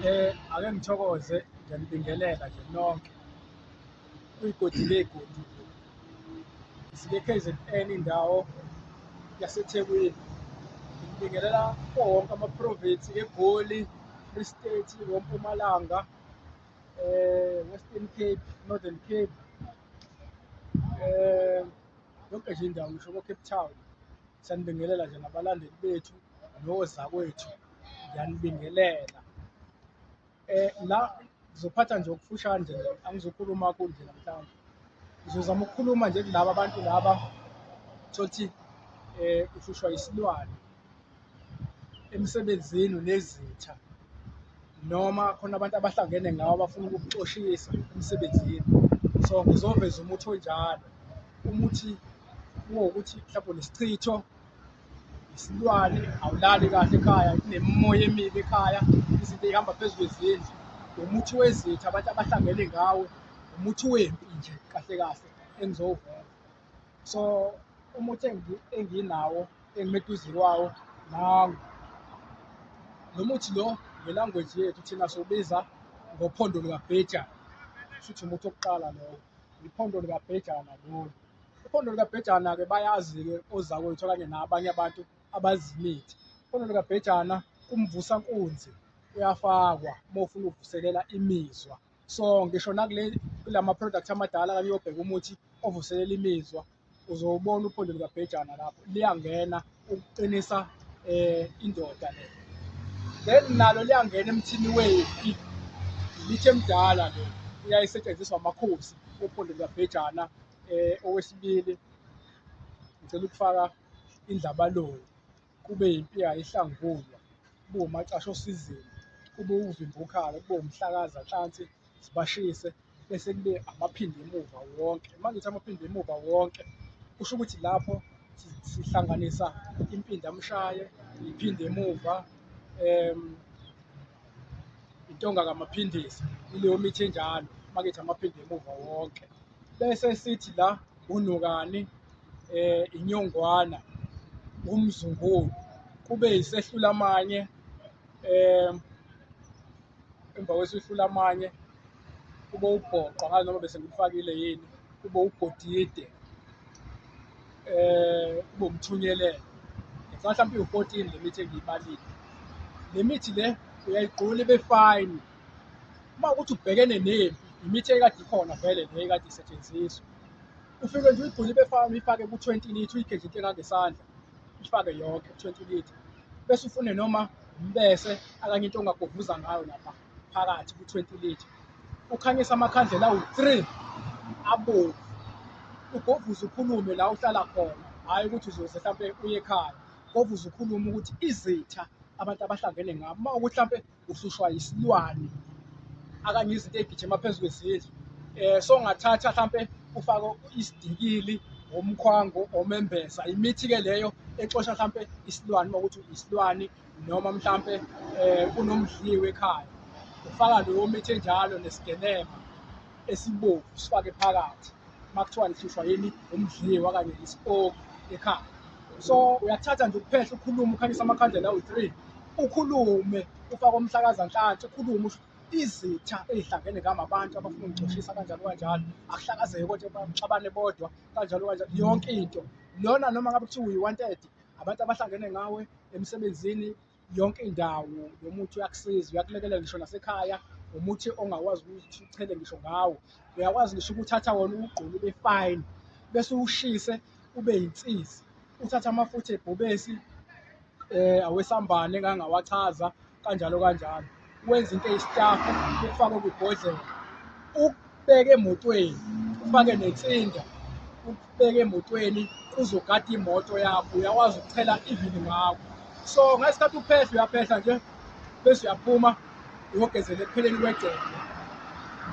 Eh ake ngithokoze ngiyanibingelela nje nonke kuyigodi legodi sike KZN indawo yaseThekwini ngibingelela kuwo wonke amaprovinsi eGoli Free State woMpumalanga eh Western Cape Northern Cape eh yonke nje indawo ngisho ko-Cape Town sanibingelela nje nabalandeli bethu nozakwethu ngiyanibingelela eh la ngizophatha nje okufushane nje angizokhuluma kakhulu nje namhlanje ngizozama ukukhuluma nje kulaba abantu laba thothi eh uhlushwa isilwane emsebenzini nezitha noma khona abantu abahlangene ngawo abafuna ukukuxoshisa emsebenzini so ngizoveza umuthi onjalo umuthi kuwokuthi mhlawumbe nesichitho isilwane awulali kahle ekhaya kunemimoya emibi ekhaya izinto eyihamba phezu kwezindlu umuthi wezitha abantu abahlangene ngawo umuthi wempi nje kahle kahle engizowuvela so umuthi enginawo engimeduze kwawo nangu lo muthi lo ngelangweji yethu thina sobiza ngophondo likabhejana shuthi umuthi wokuqala lowo iphondo likabhejana lolu Iphondo likabhejana-ke bayazi-ke ozakwethu okanye nabanye abantu abazi imithi. Iphondo likabhejana kumvusa nkunzi uyafakwa uma ufuna ukuvuselela imizwa so ngisho nakule kula ma-product amadala kanye uyobheka umuthi ovuselela imizwa uzowubona uphondo likabhejana lapho liyangena ukuqinisa um indoda le then nalo liyangena emthini wefi lithe mdala le uyayisetshenziswa amakhosi ophondo likabhejana eh owesibili ngicela ukufaka indlabaloni kube yimpiya ihlangulwa kube umacasha osizini kube uvimbukhala kube umhlakaza hlansi sibashise bese kube amaphinde emuva wonke uma ngithi amaphinde emuva wonke kusho ukuthi lapho sihlanganisa impindamshaye iphinde emuva um intonga kamaphindisi ileyo mithi enjalo uma ngithi amaphinde emuva wonke bese sithi la unokani eh inyongwana umzungulu kube isehlula amanye eh emva kwesehlula amanye kube ubhoqo ngazi noma bese ngikufakile yini kube ugodide eh kube umthunyelelo mhlawumbe iwu-14 le mithi engiyibalile le mithi le uyayigqula ibe fine uma ukuthi ubhekene nempi imithi ekade ikhona vele le ekade isetshenziswa ufike nje uyigcule ibefana uyifake ku-twenty litre uyigedle into engangesandla uyifake yonke ku-twenty litre bese ufune noma umbese akanye into ongagovuza ngayo lapha phakathi ku-twenty litre ukhanyisa amakhandlela awu-three abomvu ugovuze ukhulume la uhlala khona hhayi ukuthi uzoze mhlawumpe uye ekhaya govuze ukhulume ukuthi izitha abantu abahlangene ngabo uma ukuthi mhlawumpe uhlushwa yisilwane akanye izinto ey'gijima phezu kwezindlu um so ngathatha hlampe ufake isidikili omkhwango omembeza imithi-ke leyo exosha hlampe isilwane uma ukuthi isilwane noma mhlampe um kunomdliwe ekhaya ufaka leyo mithi enjalo nesigenema esibomvu sifake phakathi uma kuthiwa lihlushwa yini umdliwa kanye isipoki ekhaya so uyathatha nje ukuphehla ukhulume ukhanyisa amakhandlela awu-three ukhulume ufake umhlakazanhlanhla ukhulume usho izitha ezihlangene ngami abantu abafuna ukugcoshisa kanjalo kanjalo akuhlakazeke kodwa baxabane bodwa kanjalo kanjalo yonke into lona noma ngabe kuthiwa uyi-one thirty abantu abahlangene ngawe emsebenzini yonke indawo lo muthi uyakusiza uyakulekelela ngisho nasekhaya umuthi ongakwazi ukuthi uchele ngisho ngawo uyakwazi ngisho ukuthatha wona uwugqoke ube fine bese uwushise ube yinsizi uthathe amafutha ebhubesi um awesambane engangawachaza kanjalo kanjalo wenza into eyisitafu ukufake kwibhodlela ukubeke emotweni ufake nensinda ukubeke emotweni kuzogada imoto yakho uyakwazi ukuchela ivini ngakho so ngesikhathi uphehla uyaphehla nje bese uyaphuma uyogezela ekupheleni kwegceke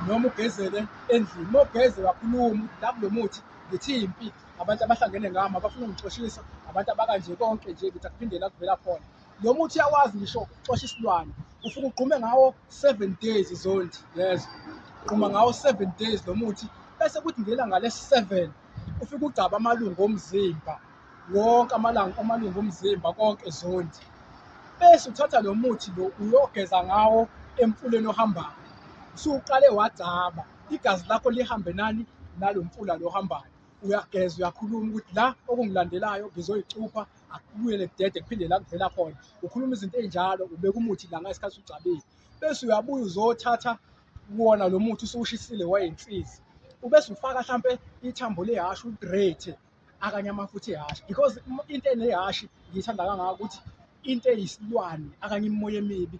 noma ugezele endlini uma ugeze wakhuluma la kulo muthi ngithi impi abantu abahlangene ngami abafuna ukungixoshisa abantu abakanje konke nje ngithi akuphindela kuvela khona lo muthi uyawazi ngisho xosha isilwane ufuke ugqume ngawo seven days zondi yes ugquma ngawo seven days lo muthi bese kuthi ngelanga lesi-seven ufike ugcaba amalungu omzimba wonke amalanga amalungu omzimba konke zondi bese uthatha lo muthi lo uyogeza ngawo emfuleni ohambayo usuqale wagcaba igazi lakho lihambe nani nalo mfula lo ohambayo uyageza uyakhuluma ukuthi la okungilandelayo ngizoyicupha akubuye nekudede kuphinde la kuvela khona ukhuluma izinto ezinjalo ubeka umuthi la ngesikhathi ugcabile bese uyabuya uzothatha kuwona lo muthi usuwushisile wayensizi ubese ufaka mhlampe ithambo lehhashi ugrate akanye amafutha ehhashi because into enehhashi ngiyithanda kangaka ukuthi into eyisilwane akanye imimoya emibi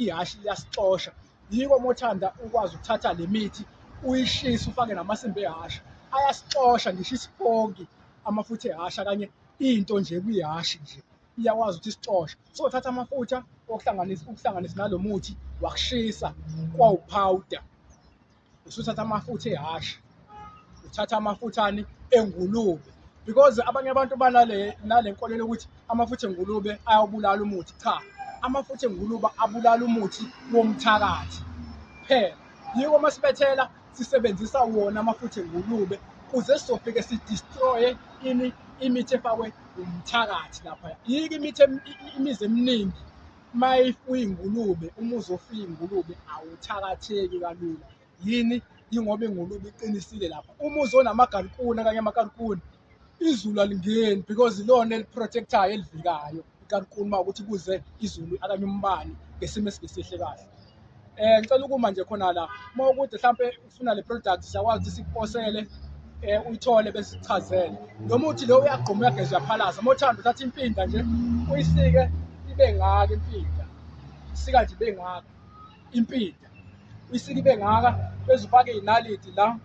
ihhashi liyasixosha yiko uma uthanda ukwazi ukuthatha le mithi uyishise ufake namasimba ehhashi ayasixosha ngisho isipoki amafutha ehhashi akanye into nje kwihhashi nje iyakwazi ukuthi isicoshe so thatha amafutha okuhlanganisa ukuhlanganisa nalo muthi wakushisa kwawuphawuda usuthatha amafutha ehhashi uthatha amafuthane engulube because abanye abantu banale nale nkolelo ukuthi amafutha engulube ayawubulala umuthi cha amafutha engulube abulala umuthi womthakathi phela yiko masibethela sisebenzisa wona amafutha engulube kuze sizofike sidestroye ini imithi efakwe umthakathi lapha yike imithi imizi eminingi uma uyingulube uma uzofuya ingulube awuthakatheki kalula yini yingoba ingulube iqinisile lapha uma uzonamagalikuni okanye amakalikuni izulu alingeni because ilona eliprotectayo elivikayo ikankulu uma ukuthi kuze izulu akanye umbani ngesimo esingesihle kahle um ngicela ukuma nje khona la uma ukude mhlawumpe ufuna le product siyakwazi ukuthi sikuposele um uyithole besichazele lo muthi lo uyagquma uyageza uyaphalaza uma uthanda uthatha impinda nje uyisike ibe ngaka impinda isika nje ibe ngaka impinda uyisike bengaka bese ufake inaliti la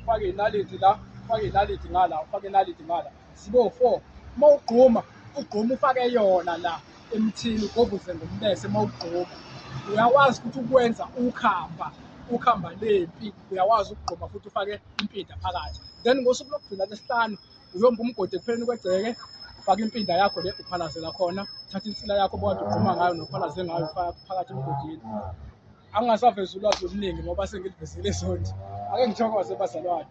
ufake inaliti la ufake inaliti ngala ufake inaliti ngala sibo 4 uma ugquma ugquma ufake yona la emthini ugovuze ngombese uma ugquma uyakwazi ukuthi ukwenza ukhamba ukhamba lempi uyakwazi ukugquma futhi ufake impinda phakathi then ngosuku lokugcina lesihlanu uyomba umgodi ekupheleni kwegceke faka impinda yakho le uphalazela khona thatha insila yakho bokade ugquma ngayo nophalaze ngayo faka phakathi emgodini angingasavezi ulwazi oluningi ngoba sengilivezile isonti ake ngithokoze bazalwane